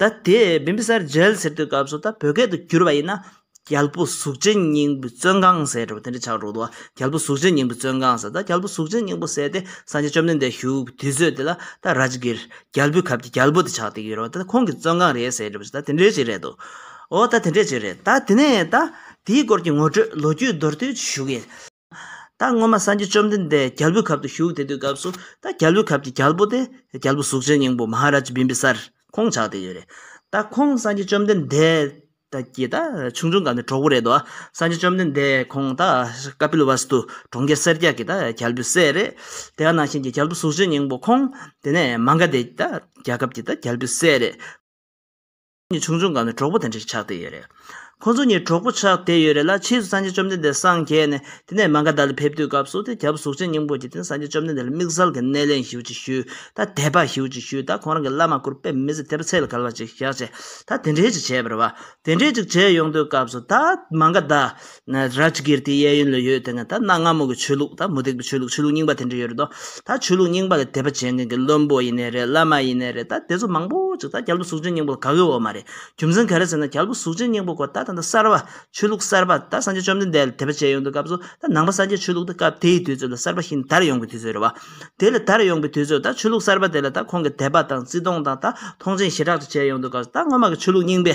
ད་དེ་བིམ་བི་སར་རྒྱལ་ཟེར་དུས་སྐབས་སུ་ད་བོད་སྐད་དུ་བསྒྱུར་བ་ཡིན་ན། རྒྱལ་པོ་གཟུགས་ཅན་སྙིང་པོའི་བཙོན་ཁང་ཟེར་བ་དེ་འདྲ་ཆགས་འགྲོ་འདུག་རྒྱལ་པོ་གཟུགས་ཅན་སྙིང་པོའི་བཙོན་ཁང་ཟེར་ད་རྒྱལ་པོ་གཟུགས་ཅན་སྙིང་པོ་ཟེར་ཏེ་སངས་རྒྱས་བཅོམ་ལྡན་འདས་བཞུགས་པའི་དུས་ཚོད་དེ་ལ་ད་ར་ཇི་གིར་རྒྱལ་པོའི་ཁབ་ཀྱི་རྒྱལ་པོ་དེ་ཆགས་འདུག་ཡོད་རེད་ད་ཁོང་གི་བཙོན་ཁང་རེད་ཟེར་བཞིན་ད་དེ་འདྲའི་ཅིག་རེད་འདུག་ཨོ་ད་དེ་འདྲའི་ཅིག་རེད་ད་དེ་ནས་ད་དེའི་སྐོར་གྱི་ངོ་སྤྲོད་ལོ་རྒྱུས་མདོར་བསྡུས་ཞུ་གི་ཡིན། ད་སྔོན་མ་སངས་རྒྱས་བཅོམ་ལྡན་འདས་རྒྱལ་པོའི་ཁབ་ཏུ་བཞུགས་དེ་དུས་སྐབས་སུ་ད་རྒྱལ་པོའི་ཁབ་ཀྱི་རྒྱལ་པོ་སྟེ་རྒྱལ་པོ་གཟུགས་ཅན་སྙིང་པོ་མ་ཧཱ་རཱ་ཇཱི་བིམ་པི་སར་ཁོང་ཆགས་ཏེ་ཡོད་རེད། ད་ཁོང་སངས་རྒྱས་བཅོམ་ལྡན་འདས་ད་ཀྱི་ད་ཆུང་ཆུང་སྐབས་ནས་གྲོགས་པོ་རེད་དོ། སངས་རྒྱས་བཅོམ་ལྡན་འདས་ཁོང་ད་ཀ་པི་ལི་ཝཱ་སི་ཏུ་གྲོང་ཁྱེར་སེར་སྐྱ་གི་ད་རྒྱལ་པོའི་སྲས་རེད། དེ་ག་ནང་བཞིན་གྱི་རྒྱལ་པོ་གཟུགས་ཅན་སྙིང་པོ་ཁོང་དེ་ནས་མ་འགའ་དེ་ད་རྒྱལ་ཁབ་ཀྱི་ད་རྒྱལ་པོའི་སྲས་རེད། གཉིས་ཆུང་ཆུང་ག་ནས་གྲོགས་པོ་དེ་འདྲ་ཞིག་ཆགས་བསྡད་ཡོད་རེད། ཁོ་ཚོ་གཉིས་གྲོགས་པོ་ཆགས་བསྡད་ཡོད་རེད་ལ་ཕྱིས་སུ་སངས་རྒྱས་བཅོམ་ལྡན་འདས་སངས་རྒྱས་ནས་དེ་ནས་མ་ག་དྷཱ་ལ་ཕེབས་དུས་སྐབས་སུ་དེ་རྒྱབ་གཟུགས་ཅན་སྙིང་པོ་གྱིས་དེ་ནས་སངས་རྒྱས་བཅོམ་ལྡན་འདས་ལ་དམིགས་བསལ་གྱི་སྣེ་ལེན་ཞུ་ཅིག་ཞུས་ད་དད་པ་ཞུ་ཅིག་ཞུས་ད་ཁོང་རང་གི་བླ་མ་སྐུར་པས་མི་ཚེ་དད་པ་ཚད་ལ་ག་ལ་ཅིག་བཞག་ཅེས་ད་དེ་འདྲས་ཅིག་བྱས་པར་བ་དེ་འདྲས་ཅིག་བྱས་ཡོང་དུས་སྐབས་སུ་ད་མ་ག་དྷཱ་རཱཇ་གིར་ཏིའི་གཡས་གཡོན་ལ་ཡོད་དེ་ནས་ད་གནའ་སྔ་མོ་གི་ཆོས་ལུགས་དང་མུ་སྟེགས་པའི་ཆོས་ལུགས་ཆོས་ལུགས་རྙིང་པ་དེ་འདྲ་ཡོད་རེད་དོ། ད་ཆོས་ལུགས་རྙིང་པ་ལ་དད་པ་བྱེད་མཁན་གྱི་བློན་པོ་ཡིན་ནི་རེད་བླ་མ་ཡིན་ནི་རེད་ད་དེ་ཚོ་མང་པོ་ཅིག་ད་རྒྱལ་པོ་གཟུགས་ཅན་སྙིང་པོ་ལ་དགའ་གི་འོ་མ་རེད་རྒྱུ་མཚན་ག་རེ་ཟེར་ན་རྒྱལ་པོ་གཟུགས་ཅན་སྙིང་པོ་སྐོར་ད་ད་ལྟ་གསར་བ་ཆོས་ལུགས་གསར་པ་ད་སངས་རྒྱས་བཅོམ་ལྡན་འདས་ལ་དད་པ་བྱེད་ཡོང་དུས་སྐབས་སུ་ད་ནང་པ་སངས་རྒྱས་ཆོས་ལུགས་ད་སྐབས་དེའི་དུས་ཚོད་ལ་གསར་པ་ཞིག་དར་ཡོང་གི་དུས་ཚོད་རེད་བ། དེ་ལ་དར་ཡོང་གི་དུས་ཚོད་ད་ཆོས་ལུགས་གསར་པ་དེ་ལ་ད་ཁོང་གི་དད་པ་དང་བརྩི་མཐོང་དང་ད་མཐོང་ཆེན་ཞེ་དྲག་ཏུ་བྱེད་ཡོང་དུས་སྐབས་སུ་ད་སྔོན་མ་གི་ཆོས་ལུགས་རྙིང་པའི་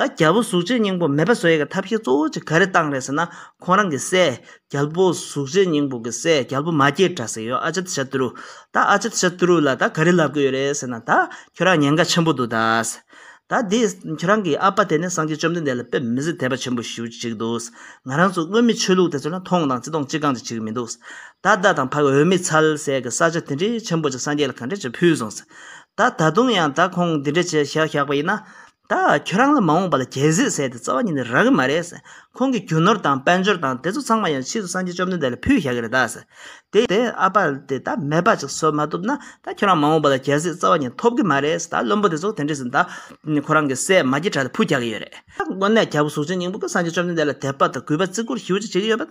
ད་རྒྱལ་པོ་གཟུགས་བྱད་སྙིང་པོ་མེད་པ་བཟོ་ཡས་ཀྱི་ཐབས་ཤེས་གཙོ་བོ་གཅིག་ག་རེ་བཏང་རེད་ཟེར་ན་ཁོང་རང་གི་སྲས་རྒྱལ་པོ་གཟུགས་བྱད་སྙིང་པོ་གི་སྲས་རྒྱལ་པོ་མ་སྐྱེས་དགྲ་ཟེར་ཡོད་ཨ་ཅད་ཤ་ཏུ་རུ། ད་ཨ་ཅད་ཤ་ཏུ་རུ་ལ་ད་ག་རེ་ལབ་གི་ཡོད་རེད་ཟེར་ན་ད་ཁྱོད་རང་ཉེན་ཁ་ཆེན་པོ་འདུག་ད། ད་འདི་ཁྱོད་རང་གི་ཨ་ཕ་དེ་ནི་སངས་རྒྱས་བཅོམ་ལྡན་འདས་ལ་དཔེ་མི་སྲིད་དད་པ་ཆེན་པོ་ཞུ་ཅིག་འདུག་ང་རང་ཚོ་དངོས་མི་ཆོས་ལུགས་དེ་ཚོ་ལ་མཐོང་དང་ཅི་གཏོང་ཅི་གང་ཅི་བྱེད་ཀྱི་མི་འདུག་ད་བདག་དང་ཕ་གི་འོས་མི་ཚལ་ཟས་ཀྱི་ས་ཆ་དེ་འདྲའི་ཆེན་པོ་ཅིག་སངས་རྒྱས་ལ་ག་འདྲས་ཀྱི་ཕུལ་སོང་ཟེར་ད་ད་དུང་ཡང་ད་ཁོང་འདི་འདྲས་བྱས་བཞག་པ་ཡིན་ན། ད་ཁྱོད་རང་ལ་མ་འོངས་པ་ལ་རྒྱལ་སྲིད་བསད་དེ་རྩ་བ་ཉིད་ནས་རག་གི་མ་རེད། ཁོང་གི་རྒྱུ་ནོར་དང་དཔལ་འབྱོར་དང་དེ་ཚོ་ཚང་མ་ཡང་ཕྱིས་སུ་སངས་རྒྱས་བཅོམ་ལྡན་འདས་ལ་ཕུལ་བཞག་གི་རེད། དེ་ཡིན་ན། ཨ་ཕ་དེ་ད་མེད་པ་ཅིག་བཟོ་མ་ཐུབ་ན། ད་ཁྱོད་རང་མ་འོངས་པ་ལ་རྒྱལ་སྲིད་རྩ་བ་ཉིད་ཐོབ་གི་མ་རེད། ད་བློན་པོ་དེ་ཚོ་དེ་འདྲས་ཟིན་ད། ཁོ་རང་གི་སྲས་མ་གྱི་དྲ་ལ་ཕུལ་བཞག་གི་ཡོད་རེད། ད་དངོས་གནས་རྒྱལ་པོ་གཟུགས་ཅན་སྙིང་པོ་ཀྱིས་སངས་རྒྱས་བཅོམ་ལྡན་འདས་ལ་དད་པ་དང་གུས་པ་བརྩི་བཀུར་ཞི་བ་ཅིག་བྱེད་ཀྱི་ཡོད་པ།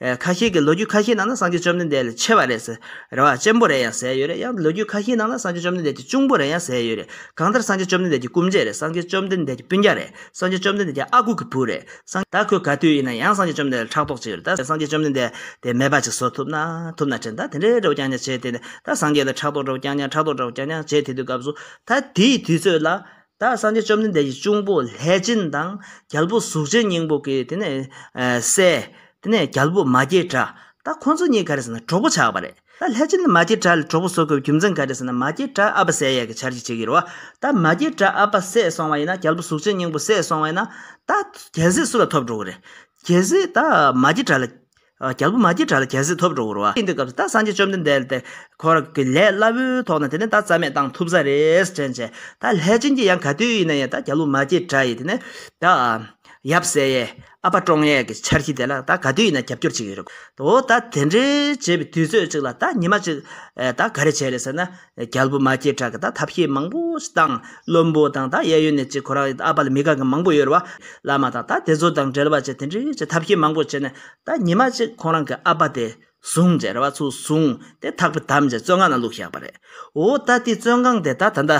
ཁ་ཤས་ཀྱིས་ལོ་རྒྱུས་ཁ་ཤས་ནང་ན་སངས་རྒྱས་བཅོམ་ལྡན་འདས་ལས་ཆེ་བ་རེད་ཟེར། རེ་བ་ཅན་པོ་རེ་ཡང་ཟེར་ཡོད་རེད་ཡང་ལོ་རྒྱུས་ཁ་ཤས་ནང་ན་སངས་རྒྱས་བཅོམ་ལྡན་འདས་ཀྱི་གཅུང་པོ་རེ་ཡང་ཟེར་ཡོད་རེད། གང་ལྟར་སངས་རྒྱས་བཅོམ་ལྡན་འདས་ཀྱི་སྐུ་མཇལ་རེད་སངས་རྒྱས་བཅོམ་ལྡན་འདས་ཀྱི་སྤུན་རྒྱག་རེད་སངས་རྒྱས་བཅོམ་ལྡན་འདས་ཀྱི་ཨ་ཁུ་གི་བུ་རེད་སངས། ད་ཁོས་ག་དུས་ཡིན་ན་ཡང་སངས་རྒྱས་བཅོམ་ལྡན་འདས་ལ་ཕྲག་དོག་བྱེད་ཡོད་རེད་ད་སངས་རྒྱས་བཅོམ་ལྡན་འདས་དེ་མེད་པ་ཅིག་བཟོ་ཐུབ་ན་ཐུབ་ན་དྲན་ད་དེ་འདྲའི་འདྲ་བོ་ཀྱང་ཀྱང་བྱེད་དེ་ནས་ད་སངས་རྒྱས་ལ་ཕྲག་དོག་འདྲ་བོ་ཀྱང་ཀྱང་ཕྲག་དོག་འདྲ་བོ་ཀྱང་ཀྱང་བྱེད་དེ་དུས་སྐབས་སུ་ད་དེའི་དུས་ཚོད་ལ་བདག་སངས་རྒྱས་བཅོམ་ལྡན་འདས་ཀྱི་གཅུང་པོ་ལྷས་བྱིན་དང་རྒྱལ་པོ་གཟུགས་ཅན་སྙིང་པོ་གིས་དེ་ནས་བསད། དེ་ནས་རྒྱལ་པོ་མ་སྐྱེས་དགྲ་ད་ཁོ་ཚོ་གཉིས་ག་རེ་ཟེར་ན་གྲོགས་པོ་ཆགས་པ་རེད་ད་ལྷས་བྱིན་ནི་མ་སྐྱེས་དགྲ་ལ་གྲོགས་པོ་བཟོ་དགོས་པའི་རྒྱུ་མཚན་ག་རེ་ཟེར་ན་མ་སྐྱེས་དགྲ་ཨ་ཕ་བསད་ཡས་ཀྱི་ཆར་གྱིས་བྱེད་ཀྱི་རེད་བ་ད་མ་སྐྱེས་དགྲ་ཨ་ཕ་བསད་སོང་བ་ཡིན་ན་རྒྱལ་པོ་གཟུགས་ཅན་སྙིང་པོ་བསད་སོང་བ་ཡིན་ན་ད་རྒྱལ་སྲིད་སུ་ལ་ཐོབ་འགྲོ་གི་རེད་རྒྱལ་སྲིད་ད་མ་སྐྱེས་དགྲ་ལ་རྒྱལ་པོ་མ་ཀྱི་དགྲ་ལ་རྒྱལ་སྲིད་ཐོབ་འགྲོ་བར་བ། དེ་འདི་སྐབས་སུ་ད་སངས་རྒྱས་བཅོམ་ལྡན་འདས་དེ་འཁོར་གྱི་ལས་སླ་བོའི་ཐོག་ནས་དེ་ནས་ད་རྩ་མེད་བཏང་ཐུབ་ས་རེད་དྲན་བྱས། ད་ལྷས་བྱིན་གྱིས་ཡང་ག་དུས་ཡིན་ན་ཡང་ད་རྒྱལ་པོ་མ་ཀྱི་དགྲ་ཡིས་དེ་ནས་ད། ཡབ་སྲས་ཡས། ཨ་ཕ་ཀྲོང་ཡས་ཀྱི་འཆར་གཞི་དེ་ལ་ད་ག་དུས་ཡིན་ན་རྒྱབ་སྐྱོར་བྱེད་ཀྱི་ཡོད་རེད། འོ་ད་དེ་འདྲའི་བྱེད་པའི་དུས་ཚོད་ཅིག་ལ་ད་ཉི་མ་གཅིག་ད་ག་རེ་བྱས་རེད་ཟེར་ན། རྒྱལ་པོ་མ་སྐྱེས་དྲག་གི་དང་ཐབས་ཤེས་མང་པོ་ཞིག་དང། བློན་པོ་དང་དང་གཡས་གཡོན་ནས་གཅིག་ཁོ་རང་ཨ་པ་ལ་མི་དགའ་གི་མང་པོ་ཡོད་རེད་བ། བླ་མ་དང་དང་དེ་ཚོ་དང་འབྲེལ་བ་བྱས་དེ་འདྲའི་ཆེ་ཐབས་ཤེས་མང་པོ་བྱས་ནས་དང་ཉི་མ་གཅིག་ཁོང་རང་གི་ཨ་པ་དེ་བཟུང་བྱས་རེད་བ་ཚུར་བཟུང་དེ་ཐག་པས་དམ་བཅས་བཙོན་ཁང་ན་བླུགས་བཞག་པ་རེད། འོ་ད་དེ་བཙོན་ཁང་དེ་ད་ད་ད་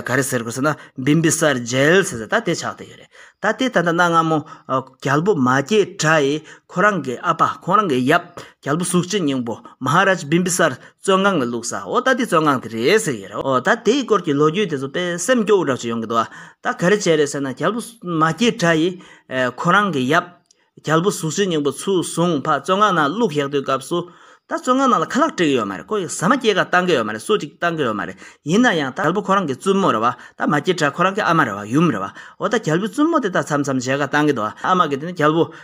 ག་རེ་ཟེར་དགོས་ཟེར་ན་བིམ་པི་སར་རྒྱལ་ཟེར་ཟེར་ད་དེ་ཆགས་བསྡད་ཡོད་རེད། ད་དེ་ད་ད་ན་སྔ་མོ་རྒྱལ་པོ་མ་སྐྱེས་དྲག་ཡིས་ཁོ་རང་གི་ཨ་པ་ཁོང་རང་གི་ཡབ་རྒྱལ་པོ་གཟུགས་ཅན་སྙིང་པོ Maharaj Bimbisar བཙོན་ཁང་གི་བླུགས་ས་འོ་ད་དེ་བཙོན་ཁང་དེ་རེད་ཟེར་གྱི་རེད་འོ་ད་དེའི་སྐོར་གྱི་ལོ་རྒྱུས་དེ་ཚོ་དཔེ་སེམས་སྐྱོ་བོ་རག་ཅིག་ཡོང་གི་འདུག་ཨ་ད་ག་རེ་བྱས་རེད་ཟེར་ན་རྒྱལ་པོ་མ་སྐྱེས་དགྲ་ཡིས་ཁོ་རང་གི་ཡབ་རྒྱལ་པོ་གཟུགས་ཅན་སྙིང་པོ་ཚུར་བཟུང་ཕ་བཙོན་ཁང་ནང་བླུགས་བཞག་དུས་སྐབས་སུ་ད་བཙོན་ཁང་ནང་ལ་ཁ་ལག་སྤྲད་གི་ཡོད་མ་རེད་ཁོ་ཡིས་ཟ་མ་སྐྱེས་ཀ་བཏང་གི་ཡོད་མ་རེད་སུ་ཅིག་བཏང་གི་ཡོད་མ་རེད་ཡིན་ན་ཡང་ད་རྒྱལ་པོ་ཁོ་རང་གི་བཙུན་མོ་རེད་བ་ད་མ་སྐྱེས་དགྲ་ཁོ་རང་གི་ཨ་མ་རེད་བ་ཡུམ་རེད་བ་འོ་ད་རྒྱལ་པོའི་བཙུན་མོ་དེ་ད་མཚམས་མཚམས་མཇལ་ཁ་བཏང་གི་འདུག་ཨ་མ་གི་དེ་ནི་རྒྱལ་པོ་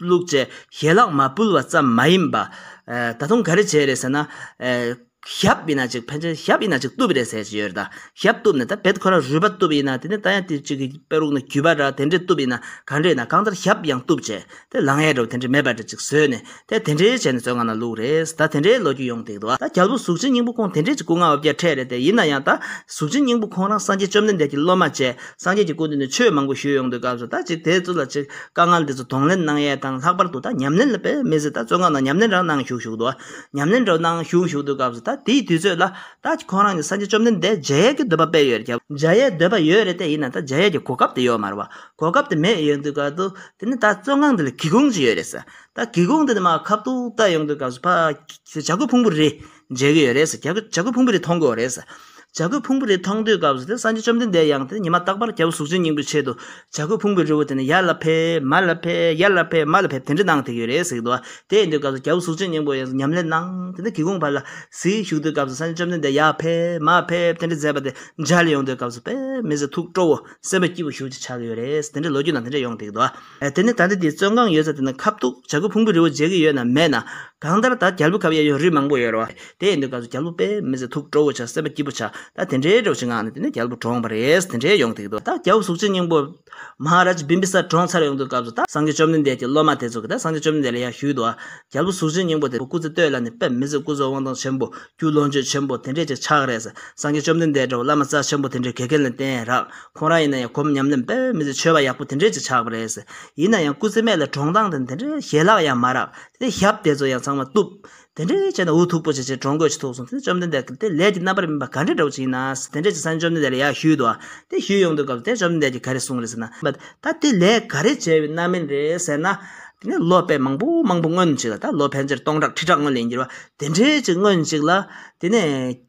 བླུགས་ཚེ་ཞལ་ལག་མ་བསྐུལ་བ་ཙམ་མ་ཡིན་པ། ད་དུང་ག་རེ་བྱས་རེད་ཟེར་ན། ཞབས་ཡིན་ན་ཅིག་ཕན་ཚུན་ཞབས་ཡིན་ན་ཅིག་གཏུབ་རེད་ཟེར་གྱི་ཡོད་རེད་ད། ཞབས་གཏུབ་ནས་ད་བེད་ཁོ་ར་རུས་པ་གཏུབ་ཡིན་ན་དེ་ནས་ད་ཡང་དེ་གཅིག་གི་པེ་རུག་ན་གུས་པ་འདྲ་དེ་འདྲས་གཏུབ་ཡིན་ན་ག་འདྲས་ཡིན་ན་གང་ལྟར་ཞབས་ཡང་གཏུབ་བྱས་དེ་ལང་ཡས་འདྲ་བོ་དེ་འདྲས་མེད་པ་འདྲ་གཅིག་བཟོས་ནས་ད་དེ་འདྲས་བྱས་ནས་བཙོན་ཁང་ན་བླུགས་རེད་ད་དེ་འདྲས་ལོ་རྒྱུས་ཡོང་སྡིག་ཏོ། ད་རྒྱལ་པོ་གཟུགས་ཅན་སྙིང་པོ་ཁོང་དེ་འདྲས་ཀྱི་སྐུ་ལྔ་འོ་བརྒྱ་ཕྲད་རེད་དེ་ཡིན་ན་ཡང་ད་གཟུགས་ཅན་སྙིང་པོ་ཁོང་རང་སངས་རྒྱས་བཅོམ་ལྡན་འདས་ཀྱི་སློབ་མ་བཅས་སངས་རྒྱས་ཀྱི་སྐུ་འདི་ནས་ཆོས་མང་པོ་ཞུས་ཡོང་དུས་སྐབས་སུ་ད་ཅིག་དེ་ཚོ་ལ་ཅིག་དཀའ་ངལ་འདི་ཚོ་གདོང་ལེན་གནང་ཡས་དང་ལྷག་པར་དུ་ད་ཉམས་ལེན་ལ་དཔེ་མི་ཟིན་ད་བཙོན་ཁང་ནང་ཉམས་ལེན་རང་གནང་བཞུགས་བཞུགས་འདུག་ཉམས་ལེན་རོགས་གནང་བཞུགས་བཞུགས་འདུག་སྐབས་སུ་ད་དེའི་དུས་ཚོད་ལ་ད་ཅིག་ཁོང་རང་གཉིས་སངས་རྒྱས་བཅོམ་ལྡན་འདས་མཇལ་ཡས་ཀྱི་འདོད་པ་དཔེ་ཡོད་རྒྱབ། མཇལ་ཡས་འདོད་པ་ཡོད་རེད་དེ་ཡིན་ན་ད་མཇལ་ཡས་ཀྱི་གོ་སྐབས་དེ་ཡོད་མ་རེད་བ་གོ་སྐབས་དེ་མེད་ཡོད་འདུག་ག་འདུག་དེ་ནི་ད་བཙོན་ཁང་འདི་ལ་གི་གུང་ཅིག་ཡོད་རེད་ཟེར་ད་གི་གུང་འདི་ནི་མ་ཁབ་ཏུ་བཏགས་ཡོང་དུས་སྐབས་སུ་ཕ། བྱ་རྒོད་ཕུང་པོ་རེད། མཇལ་གྱི་ཡོད་རེད། བྱ་རྒོད་ཕུང་པོ་རེ་མཐོང་གི་ཡོད་རེད། བྱ་རྒོད་ཕུང་པོ་རེ་མཐོང་དུས་སྐབས་སུ་དེ་སངས་རྒྱས་བཅོམ་ལྡན་འདས་ཡང་དེ་ཉི་མ་རྟག་པར་རྒྱལ་པོ་གཟུགས་ཅན་སྙིང་པོའི་ཆེད་དུ་བྱ་རྒོད་ཕུང་པོའི་རི་བོ་དེ་ནས་ཡར་ལ་ཕེབས་མར་ལ་ཕེབས་ཡར་ལ་ཕེབས་མར་ལ་ཕེབས་དེ་འདྲ་གནང་དེ་གི་ཡོད་རེད་ཟེར་གི་འདུག་བ། དེ་ཡིན་དུས་སྐབས་སུ་རྒྱལ་པོ་གཟུགས་ཅན་སྙིང་པོ་ཡང་སུ་ཉམས་ལེན་གནང་དེ་ནས་གི་གུང་བར་ལ་གཟིགས་བཞུགས་དུས་སྐབས་སུ་སངས་རྒྱས་བཅོམ་ལྡན་འདས་ཡར་ཕེབས་མར་ཕེབས་དེ་འདྲ་མཛད་པ་དེ་མཇལ་ཡོང་དུས་སྐབས་སུ་པདྨའི་ཟེ་ཐུགས་སྤྲོ་བོ་སེམས་དཔའ་སྐྱིད་པོ་བཞུགས་ཅེས་བྱ་གི་ཡོད་རེད། དེ་འདྲ་ལོ་རྒྱུས་ནང་དེ་འདྲ་ཡོང་དེ་གི་འདུག་བ། དེ་ནི་ད་ལྟ་དེའི་བཙོན་ཁང་ཡོད་ས་དེ་ན་ཁབ་ཐུག་བྱ་རྒོད་ཕུང་པོའི་རི་བོ་འཇལ་གི་ཡོད་ན་མེད་ན། གང་ལྟར་ད་རྒྱལ་པོ་ཁབ་གཡས་གཡོན་རི་མང་པོ་ཡོད་རེད་བ། དེ་ཡིན་དུས་སྐབས་སུ་རྒྱལ་པོ་པས་མི་ཚེ་ཐུག་སྤྲོ་བོ་བྱ་སེམས་པ་སྐྱིད་པོ་བྱ་ད་དེ་འདྲའི་འདྲོགས་བྱེད་ངང་ནས་དེ་ནས་རྒྱལ་པོ་གྲོངས་པ་རེད་དེ་འདྲའི་ཡོང་ཐིག་ཏུ་ད་རྒྱལ་པོ་གཟུགས་ཅན་སྙིང་པོ། Maharaj Bimbisar གྲོངས་ཚར་ཡོང་དུས་སྐབས་སུ་ད་སངས་རྒྱས་བཅོམ་ལྡན་འདས་ཀྱི་སློབ་མ་དེ་ཚོ་གིས་ད་སངས་རྒྱས་བཅོམ་ལྡན་འདས་ལ་ཡང་ཞུས་འདུག་ཨ། རྒྱལ་པོ་གཟུགས་ཅན་སྙིང་པོ་དེ་སྐུ་ཚེ་སྟོད་ལ་ནས་པས་མི་ཚེ་སྐུ་གཟུགས་དབང་ཐང་ཆེན་པོ། རྒྱུད་ལོངས་སྤྱོད་ཆེན་པོ་དེ་འདྲས་ཅིག་ཆགས་རེད། སངས་རྒྱས་བཅོམ་ལྡན་འདས་འདྲ་བོ་བླ་མ་རྩ་ཆེན་པོ་དེ་འདྲའི་དགེ་རྒན་ལ་བསྟེན་རག་ཁོང་རང་ཡིན་ན་ཡང་གོམ་ཉམས་ལེན་དཔེ་མི་ཚེ་འཆོལ་བ་ཡག་པོ་དེ་འདྲས་ཀྱི་ཆགས་པ་རེད། ཡིན་ན་ཡང་སྐུ་ཚེ་སྨད་ལ་གྲོང་སྟངས་དེ་འདྲས་ཞལ་ལག་ཡང་མ་རག་དེ་ཞབས་དེ་ཚོ་ཡང་ཚང་མ་བཏུབ། དེ་འདྲས་བྱས་ན་འུ་ཐུག་པོ་བྱས་བྱས་གྲོང་དགོས་ཅི་ཐུག་སོང་དེ་བཅོམ་ལྡན་འདས་ཀྱི་དེ་ལས་ཀྱི་རྣམ་པར་སྨིན་པ་ག་འདྲས་འདྲ་བོ་ཅིག་ཡིན་ན་དེ་འདྲས་ཀྱི་ས་ནས་བཅོམ་ལྡན་འདས་ལ་ཡར་བཞུད་དོ། དེ་བཞུད་ཡོང་དུས་སྐབས་དེ་བཅོམ་ལྡན་འདས་ཀྱིས་ག་རེ་གསུངས་རེད་ཟེར་ན། ད་དེ་ལས་ག་རེ་བྱས་པའི་རྣམ་སྨིན་རེད་ཟེར་ན། དེ་ནས་ལོ་དཔེ་མང་པོ་མང་པོ་སྔོན་ཅིག་ལ་ད་ལོ་ཕལ་ཆེར་སྟོང་ཕྲག་ཁྲི་ཕྲག་སྔོན་ལས་འགྱུར་བ་དེ་འདྲས་ཅིག་སྔོན་ཅིག་ལ། དེ་ནས།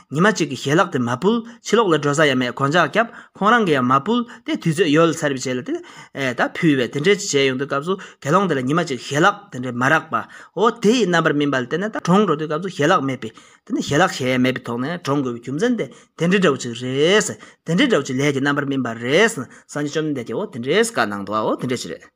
ཉི་མ་གཅིག་གི་ཞལ་ལག་དེ་མ་བུལ་ཕྱི་ལོག་ལ་འགྲོ་ས་ཡ་མེད་གང་ཅག་སྐྱབས་ཁོང་རང་གི་ཡང་མ་བུལ་ཏེ་དུས་ཚོད་ཡོལ་ཚར་བའི་རྗེས་ལ་དེ་ད་ཕུལ་བས་དེ་འདྲའི་བྱས་ཡོང་དུས་སྐབས་སུ་དགེ་སློང་དེ་ལ་ཉི་མ་གཅིག་ཞལ་ལག་དེ་འདྲའི་མ་རག་པ་འོ་དེ་ཡི་རྣམ་པར་སྨིན་པ་ལ་དེ་ནས་ད་གྲོངས་འགྲོ་དུས་སྐབས་སུ་ཞལ་ལག་མེད་པས་དེ་ནས་ཞལ་ལག་བྱས་ཡ་མེད་པའི་ཐོག་ནས་གྲོངས་དགོས་པའི་རྒྱུ་མཚན་དེ་དེ་འདྲའི་འདྲ་བོ་ཅིག་རེད། དེ་འདྲའི་འདྲ་བོ་ཅིག་ལས་ཀྱི་རྣམ་པར་སྨིན་པ་རེད། སངས་རྒྱས་བཅོམ་ལྡན་འདས་ཀྱིས་འོ་དེ་འདྲའི་བཀའ་གནང་འདུག་བ་འོ་དེ་འདྲའི་ཕྱིར།